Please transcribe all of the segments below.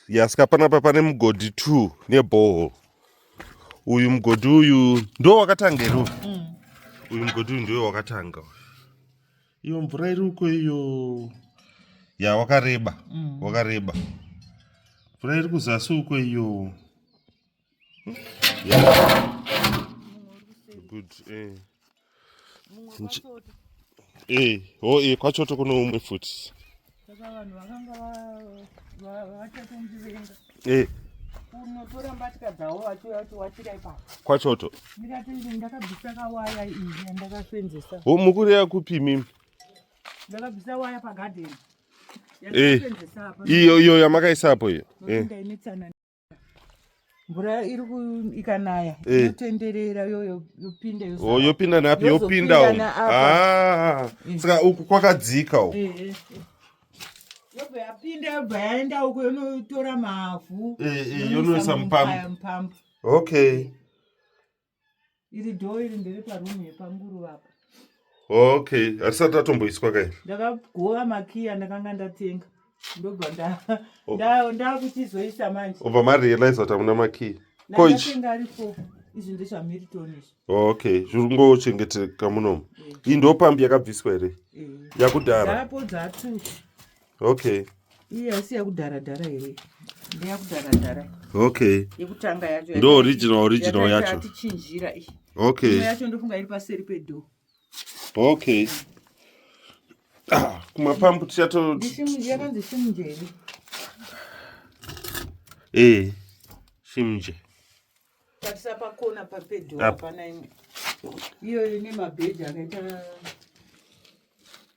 yasika panapa pane mugodhi two neboho uyu mugodhi uyu ndo wakatanga iro mm. uyu mugodhi uyu ndoyo wakatanga iyo mvura iri uko iyo ya wakareba mm. wakareba mvura iri kuzasi uko iyo good eh eh oh eh kwachoto kuno umwe futi saka vanhu vakanga vachatondivenga eh unotora mbatya dzavo vachiwachira ipapo kwachoto ndikati ndakabvisa kawaya iyi yandakasenzesa ho mukureya kupi mimi ndakabvisa waya pagadheni eh. iyo iyo yamakaisa apo iyo eh. mvura iri ikanaya eh. inotenderera yoyo yopinda oh, yopinda napi yopinda ah, eh. saka uku kwakadzika uku eh, yobva yapinda yobva yaenda uko yonotora mavhu yonoisa mupampu okay iri dhoo iri ndiri parumu yepanguruva apa okay hatisati tatomboiswa kai ndakagova makiya ndakanga ndatenga ndobva oh. ndakuchizoisa manje obva marealize kuti hamuna makiya koichiinga ari fo izvi ndezvamiriton izvi okay zviri kungochengeteka munomu eh. iyi ndopambi yakabviswa here eh. yakudhara apodza atuchi okay iye asi yakudhara dhara here ndeyakudhara dhara okay yekutanga yacho ndo original original yacho yatichinjira iyi okay yacho ndofunga iri paseri pedo okay ah, kumapambu tichato yakanzi shimje here eh shimje tatisa pakona papedo hapana imwe iyoyo nemabheji akaita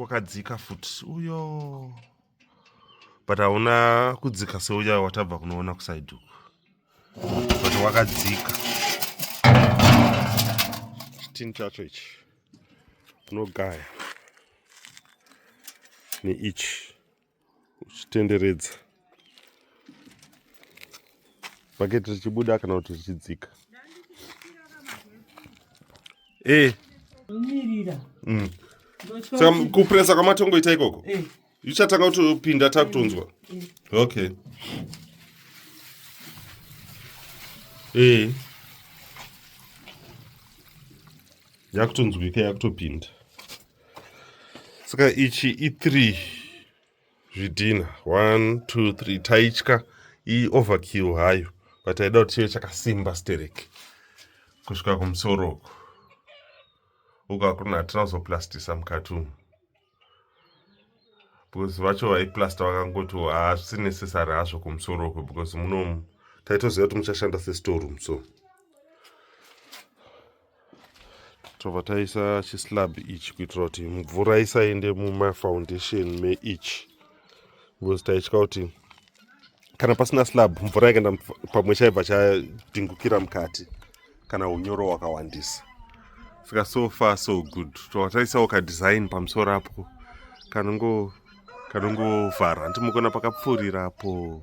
wakadzika futi uyo but hauna kudzika seuya watabva kunoona kusaiduku but wakadzika chitini chacho ichi unogaya neichi uchitenderedza bhaketi richibuda kana kuti richidzika eh. mm. saka kupresa kwamatongoita ikoko eh. ichatanga kutopinda takutonzwa eh. okay ee yakutonzwika yakutopinda saka ichi i3 zvidhina 1 2 3 taitya ioverkill hayo but aida kuti chive chakasimba stereki kusvika kumusoro uku uku hakuna hatina kuzoplastisa mukati umu because vacho vaiplasta vakangoti hazvisi necessary hazvo kumusoro uku because munomu taitoziva kuti muchashanda sestorum so tobva taisa chislab ichi kuitira kuti mvura isaende mumafoundation meichi because taitya kuti kana pasina slab mvura yakaenda pamwe chaibva chadingukira mukati kana unyoro hwakawandisa saka so far so good tobva taisawo kadesign pamusoro apo kanongovhara ndimukuona pakapfuurira apo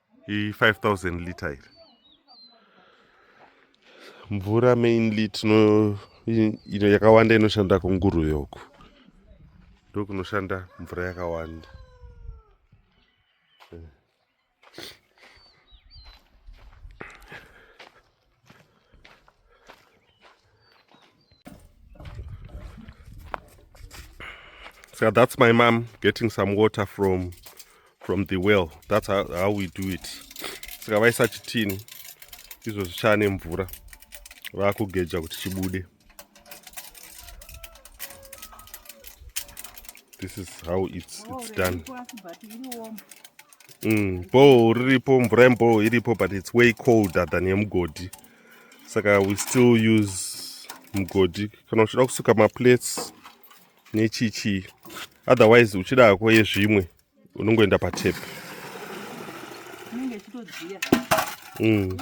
i5000 liter iri mvura mainly tino ino yakawanda inoshanda kunguruve uku ndokunoshanda mvura yakawanda So that's my mom getting some water from from the well. That's how, how we do it. Saka vaisa chitini izvo zvichane mvura vakugeja kuti chibude. this is how it's, it's done mm, bho riripo mvura yemboo iripo but it's way colder than yemugodhi saka we still use mugodhi kana uchida kusuka maplates nechichii otherwise uchida hako yezvimwe unongoenda patep mm.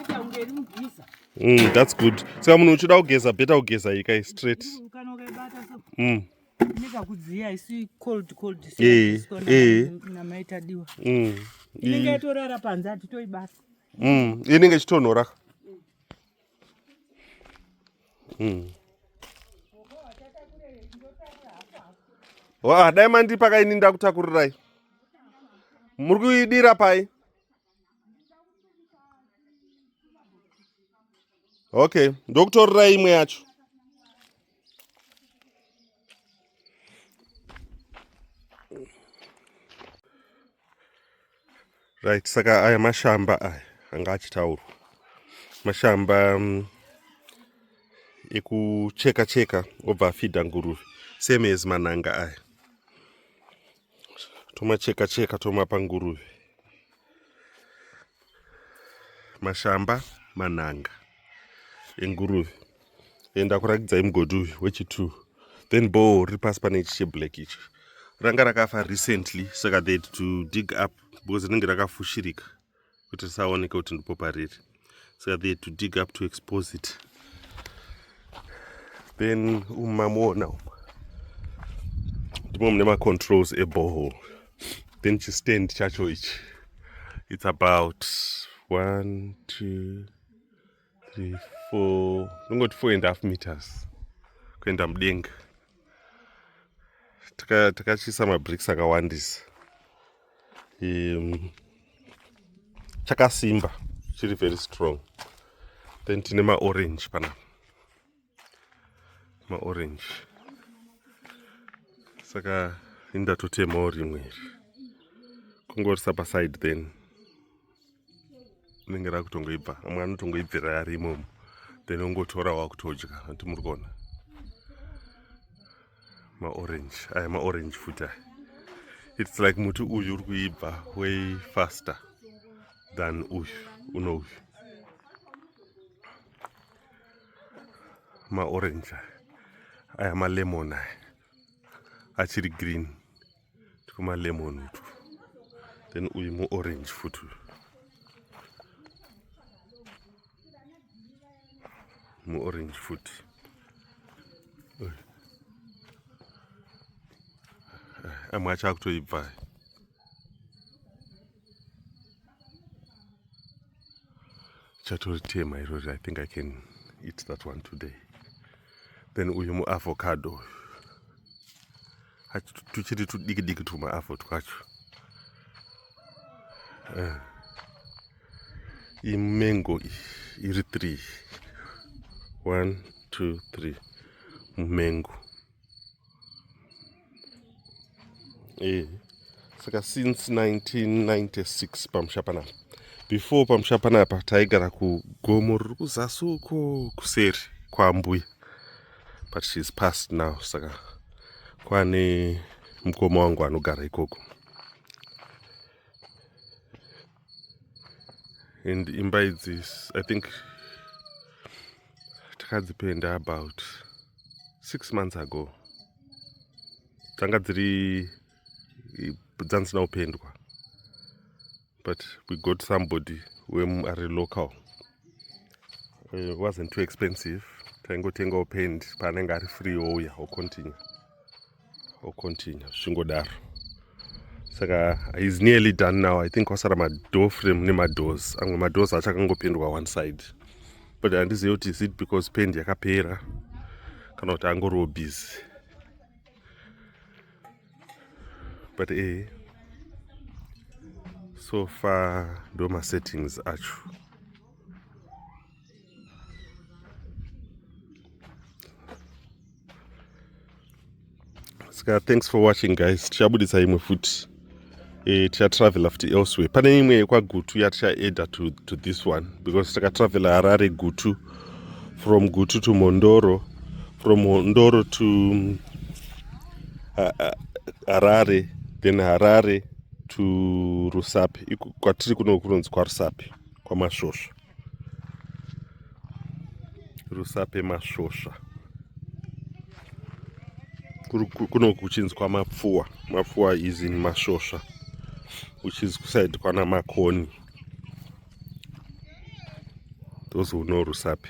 mm, that's good saka munhu uchida kugeza beta kugeza ikai straight mm. nekakudziya isi cold cold eh, eh. namaitadiwa mm. inenge yatorara panze hatitoibasa mm. inenge ichitonhora mm. wa dai mandipa ka ini ndakutakurirai muri kuidira pai okay ndokutorirai imwe yacho right saka aya mashamba aya anga achitaurwa mashamba um, ekucheka cheka obva afidha nguruve same as mananga aya tomacheka cheka tomapa nguruve mashamba manhanga enguruve enda kurakidzai mugodhi uyu wechi2 then bow riri pasi pane ichi cheblack ichi ranga rakafa recently saka they to dig up because rinenge rakafushirika kuti risaoneke kuti ndipo pariri saka they to dig up to expose it then umu mamuona umu ndimo mune macontrols ebohol then chistand chacho ichi it's about one two three four ndongoti four and half meters kuenda mudenga takachiisa taka mabricks akawandisa um, chakasimba chiri very strong then tine maorange panapa maorange saka indatotemawo rimwe iri kungorisa paside then rinenge rakutongoibva amwe anotongoibvira ari imomo then ongotora wakutodya ati muri kuona maorange aya maorange futi aya its like muti uyu uri kuibva way faster than uyu uno uyu maorange aya malemon aya achiri green tikumalemon utu then uyu muorange futi uyu muorange futi amwe acho akutoibva chatoritema irori i think i can eat that one today then uyu muavocado tuchiri tudiki diki tumaavo twacho eh. imengo iri three one two three mumengo eh saka since 1996 pamusha panapa before pamusha panapa taigara kugomo riri kuzasi uko kuseri kwambuya but she is past now saka kwane mukoma wangu anogara ikoko and imba idzi i think takadzipenda about six months ago dzanga dziri dzandisina kupendwa but we got somebody wem ari local it wasn't too expensive taingotengawo paint paanenge ari free ouya ocontinue ocontinue zvingodaro saka is nearly done now i think kwasara madoor frame nemadoors amwe madoors acho akangopendwa one side but handizive kuti is it because pend yakapera kana kuti angoriwo busy but ee eh, so far ndo masettings acho ska thanks for watching guys tichabudisa imwe futi eh, tichatravela futi elsewhere pane imwe yekwagutu yatichaeda to, to this one because takatravela harare gutu from gutu to mondoro from mondoro to mm, harare then harare to rusape kwatiri kuno kunonzi kwarusape kwamasvosva rusape masvosva kuno kuchinzwa mapfuwa mapfuwa is in masvosva which is kusaidi kwana makoni those who know rusape